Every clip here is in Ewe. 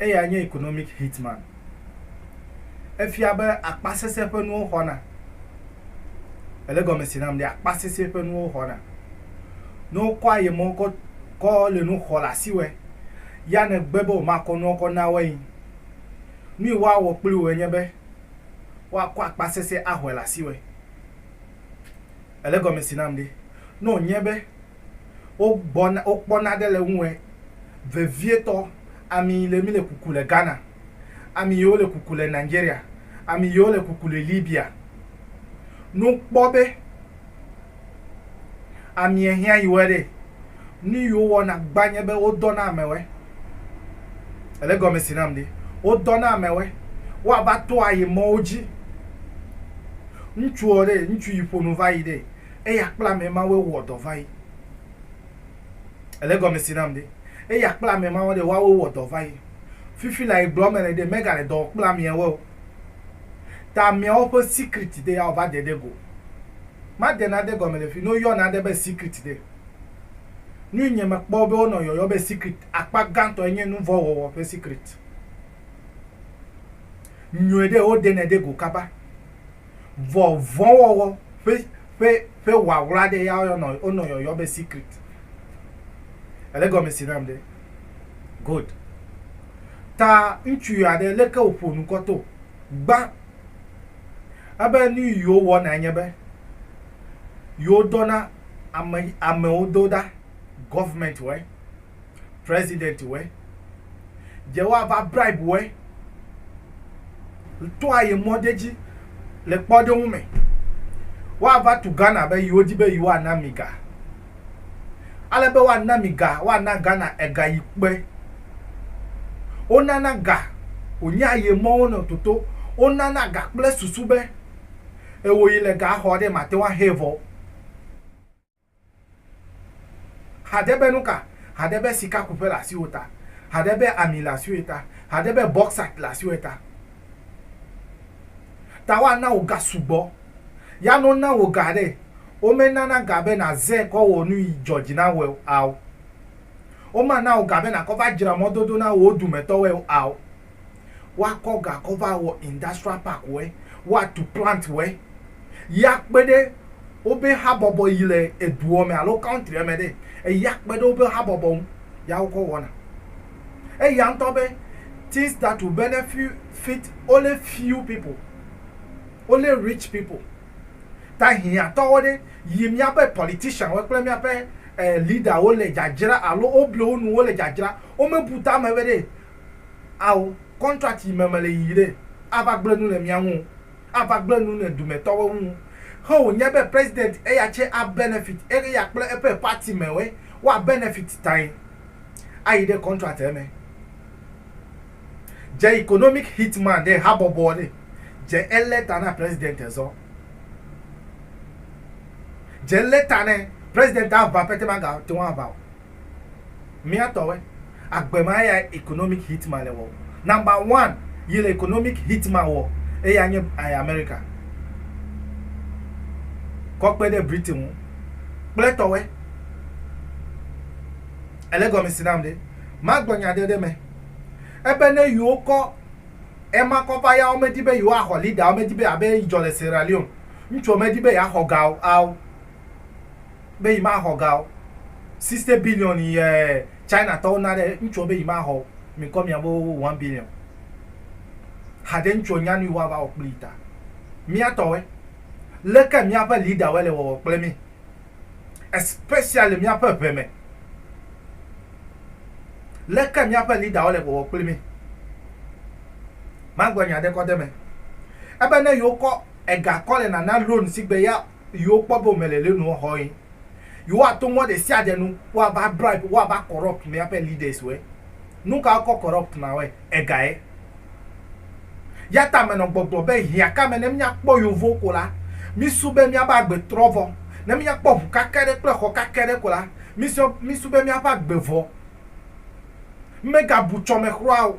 Eyae nye economic hitman. Efia be akpasese ƒe nuwo xɔna. Èle gɔme se nam ɖe? Akpasese ƒe nuwo xɔna. Ne wokɔ ayemewo kɔ kɔ le nu xɔ le asiwòe, ya nègbe be womakɔ nuawo kɔ na woe. Nu yi woawɔ kpli wòe nye be woakɔ akpasese axɔe le asiwòe. Èle gɔme se nam ɖe? Ne wònye be wogbɔna, wokpɔna ɖe le ŋuwɛ vevietɔ. Ami yi le mi le kuku le Ghana, ami yi wo le kuku le Nigeria, ami yi wo le kuku le Libya. Nu kpɔ be amiɛ hiã yi wɛ ɖɛ. Nu yi wo wɔna gba nye be wo dɔna amɛwɛ. Ele gɔmesi nam ɖe? Wo dɔna amɛwɛ woava to ayi mɔwo ji. Ŋtsuɔ ɖe, ŋtsu yi ƒonu vayi ɖɛ. Eya kple ame mawoe wowɔ dɔ va yi. Èle egɔme si nam ɖe? Eya kple ame mawo ɖe, woawoe wowɔ dɔ va yi. Fifi la yi gblɔm mele ɖe, megale dɔ wɔm kple ameawoe o. Ta ameawo ƒe secret ɖe, ya wòva de ɖe go. Made nade gɔme le fi ne woyɔ nane be secret ɖe. Nui nye mekpɔ be wonɔ yɔyɔ be secret akpa gãtɔ enye nuvɔ̃ wɔwɔ ƒe secret. Nyuiɖe, wode nɛ ɖe go kaba. Vɔ vɔ̃wɔwɔ ƒe ƒe ƒe ŋaŋla aɖe ya woyɔnɔ wonɔ yɔyɔ be secret. Èle gɔme si nam ɖe? Good. Ta ŋutsuvi aɖe leke wòƒo nu kɔ to gbã ebe nu yi wowɔna nye be yewodɔna ame amewo do ɖa, government wɔe. president wɛ dze wa va bribe wɛ to aye mɔ de dzi le kpɔ de ŋu me wa va tu Ghana be yiwo di be yiwa na mi ga ale be wa na mi ga wa na Ghana ega yi kpe wo nana ga wo nya aye mɔ wo nɔ toto wo nana ga kple susu be ewo yi le ga xɔ de ma te wa he vɔ Haɖe be nuka? Haɖe be sikakuƒe le asiwò ta. Haɖe be ami le asiwòe ta. Haɖe be bɔksait le asiwòe ta. Ta woana wò ga sugbɔ. Ya ne wona wò ga ɖe, womenana ga be nàze kɔ wɔ nu yi dzɔ dzi na wòe ao. Womana wò ga be nàkɔ va dzra mɔdodo na wò dumetɔwoe ao. Woakɔ ga kɔ va wɔ industrial park wɛ, woatu plant wɛ yi akpe ɖe wobe habɔbɔ yi le eduɔ me alo country me ɖe eyi akpe ɖe wobe habɔbɔ ŋu ya wokɔ wɔna. Eya ŋutɔ be things that will benefit only few people, only rich people. Ta hiãtɔwo ɖe yi míaƒe politician wo kple míaƒe leader wo le dzadzra alo wobli wo nu wo le dzadzra, womebu tame be ɖe ao contract yi me mele yiyi ɖe ava gble nu le mia ŋu o, ava gble nu le dumɛ tɔwo ŋu he wo nye be president eya tse a benefit eye ya kple eƒe party me woe wa benefit tae ayi ɖe contract eme. Dze economic hit man ɖe habɔbɔ ɖe dze ele ta na president ezɔ dze ele ta ne president ava pɛtɛ ma ga teŋu ava o Mía tɔwɛ. Agbe ma eya economic hit ma le wɔ. Number one yi le economic hit ma wɔ eya nye eh, America. Kɔ kpe ɖe Britain ŋu kple tɔwɛ. Ele gɔmesi nam ɖe. Ma gblɔ nya ɖe ɖe me. Ebe ne yewo kɔ ema kɔ va ya wo medi be yewo axɔ leader wo medi be abe yi dzɔ le Sierra Leone. Ŋutsu wo medi be ya xɔ ga o ao. be yi ma xɔ ga o. Sixty billion yi ɛɛ China tɔwo na ɖe ŋutsuɔ be yi ma xɔ o. Mi kɔ mia bo one billion. Haɖe ŋutsuɔ nya nuyi woava wɔ kpli yi ta. Mia tɔwoe. Leke miaƒe leader woe le wɔwɔ kple mi? Especially le miaƒe ŋɛ me. Leke miaƒe leader wo le wɔwɔ kpli mi? Magblɔ nya ɖe kɔ de me. Ebe ne yi wo kɔ ega kɔ le nana loan sigbe ya yi wokpɔ be womele le nua xɔ ye. Yi woato mɔ ɖesiaɖe nu woava bribe, woava corrupt míaƒe leaders wɔe. Nuka wokɔ corrupt ma wɔe? Egae. Yata menɔ gbɔgblɔ be hiãka me ne míakpɔ yevuwo ko la, mísu be míaƒe agbe trɔ vɔ. Ne míakpɔ ʋu kake aɖe kple xɔ kake aɖe ko la, mísu be míaƒe agbe vɔ. Megabu tsɔmexlɔa o.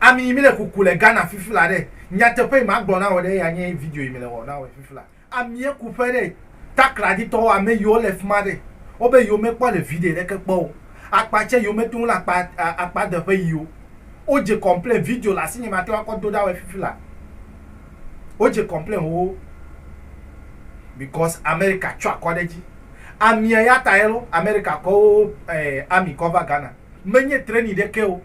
Ami yi mi le kuku le Ghana fifla ɖe, nyateƒe yi ma gblɔ na wò ɖe eya nye video yi mi le wɔ na wɔ fifla. Amie kuƒe ɖe, takladi tɔwo ame yiwo le fima ɖe, wo be yiwo me kpɔ le video ɖeke kpɔ o. Akpa tse yiwo me to ŋu le akpa akpa deƒe yi o. Wo dze complain video le asinye ma te wa kɔ do ɖa wɔ fifla. Wo dze complain xoxo because America tsɔ akɔ ɖe dzi. Amie ya tae lo America kɔ wo eh ami kɔ va Ghana. Me nye training ɖeke o.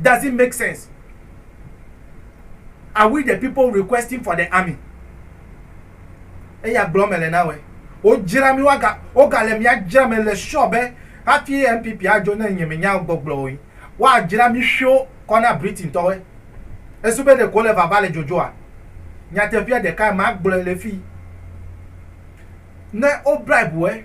does it make sense are we the people requesting for the army eya gblɔ mele na wɛ wodzra mi waga wogale mia dzra me le sure be hafi npp adzo ne nye menya gbɔgblɔ o woadzra mi ƒio kɔ na britain tɔwɛ esu be ɖeko le vava le dzodzoa nyateƒea ɖeka magblɔe le fi ne wo bribe wɛ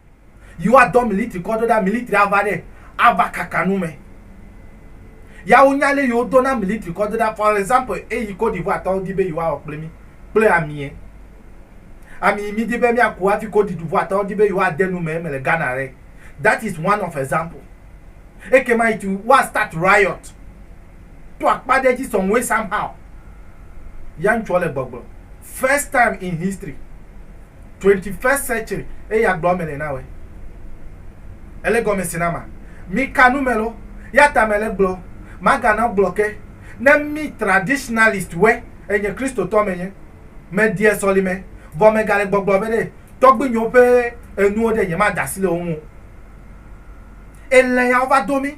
yi woa dɔ militri kɔ do ɖa militri a va ɖe a va kaka nu mɛ ya wo nya le yi wo do na militri kɔ do ɖa for example eyi Côte d'Ivoire tɔwo di be yi woa wɔ kple mi kple amie ami yi mi di be mia ku hafi Côte d'Ivoire tɔwo di be yi woa de nu mɛ eme le Ghana ɖe that is one of example ekema it woa start riot. to akpa ɖe edzi some way somehow ya ŋutsua le gbɔgblɔ first time in history 21st century eye agblɔ eme le na wɛ ele gɔme si na ma mi ka nu me lo ya ta me le gblɔ maga na gblɔ ke ne mi traditionalist wɛ enye kristotɔ me nye me die sɔlime vɔ me ga le gbɔgblɔ be ɖe tɔgbinyewo ƒe enuwo ɖe nye ma dasi le wo ŋu ele ya wo va do mi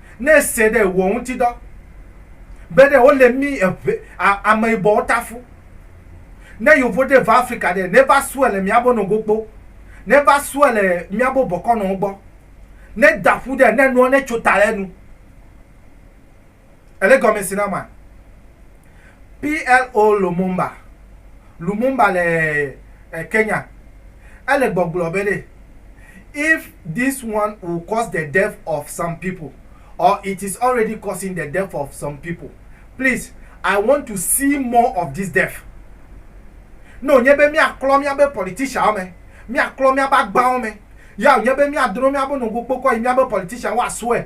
Ne ese ɖe wò ŋuti dɔ, be ɖe wo le mi eʋe a ame yibɔ wo ta fu. Ne yovo ɖe va Afrika ɖe, ne va sue le mia bo no go kpo. Ne va sue le mia bo bɔkɔ nɔ wo gbɔ. Ne da ƒu ɖe, ne nua ne tso ta le nu. Ele gɔme si na ma. PLO Lumumba, Lumumba le Kenya, ele gbɔgblɔ be ɖe, If this one will cause the death of some people or it is already causing the death of some people, please I want to see more of this death. Ne wònye be míaklɔ míabe politicianwo me, míaklɔ míabe agbawo me, ya wònye be míadro míabe nogokpokɔ yi míabe politicianwo woasɔe,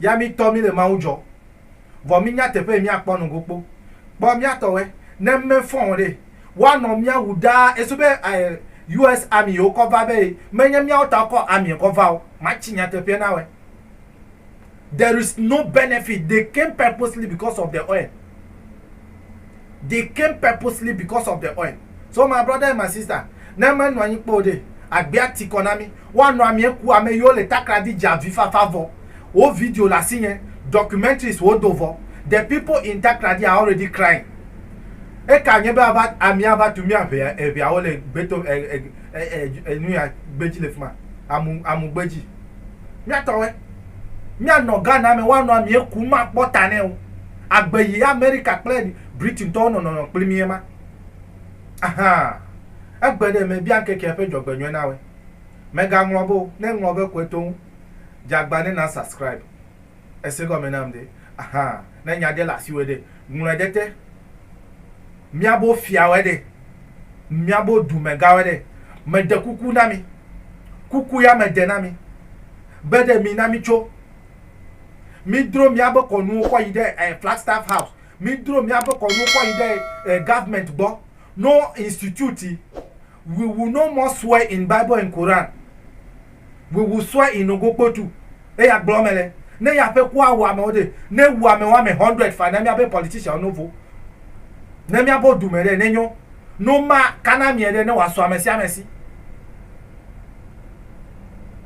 Ya mi tɔ mi le Mawu dzɔ. Vɔ mi nya teƒe yi mi a kpɔ nɔgo kpo. Kpɔ mia tɔ wɛ, ne ŋme fɔn o ɖe, wa nɔ mia wu ɖaa. Eso be US army yi wo kɔ va be yi me nye miawo ta wo kɔ army kɔ va o. Ma ci nyateƒeɛ na wɛ. There is no benefit. They came purposely because of the oil. They came purposely because of the oil. So my brother and my sister, ne menɔ anyi kpɔ o ɖee, agbea ti kɔ na mí. Woanɔ amea ku ame yiwo le takradi dze avifafa vɔ. Wo video le asinye, documentaries wodo vɔ. The people in Takradi are already crying. Eka anye be ava, amea ava tu mía ŋea, eŋeawo le gbeto, e, e, e, e, enuya gbe dzi le fi ma, amu, amugbe dzi. Míatɔwɔe. Míanɔ Ghana me, woanɔ amea ku, makpɔ ta nɛ o. agbe yi Amerika kple Britintɔwo nɔ nɔnɔ kpli mí ema. Ahaa! Egbe ɖe mebia ŋkekea ƒe dzɔgbenyɔe na woe. Mègaŋlɔ be o, ne ŋlɔ be kɔe to ŋu. Dze agba ne na subscribe. Ese gɔme nam ɖe? Ahaa! Ne nya ɖe le asiwòe ɖe, ŋlɔe ɖe te. Míabo fiawoe ɖe? Míabo dumegãwoe ɖe? Meɖe kuku na mi. Kuku ya meɖe na mi be ɖe mina mítso. Mídro míaƒe kɔnuwo kɔ yi ɖe eh, Flagstaff House. Mídro míaƒe kɔnuwo kɔ yi ɖe eh, government gbɔ. No institute. We will no more swear in Bible and Quran. We will swear in Ogokpotu. Eya gblɔ me le. Ne ya ƒe kua wɔ amewo ɖe, ne wu amewo ame hundred fa ne míaƒe politician no vo. Ne míaƒe du me ɖe, ne nyo. No ma kana mie ɖe, ne wòasɔ ame sia ame si.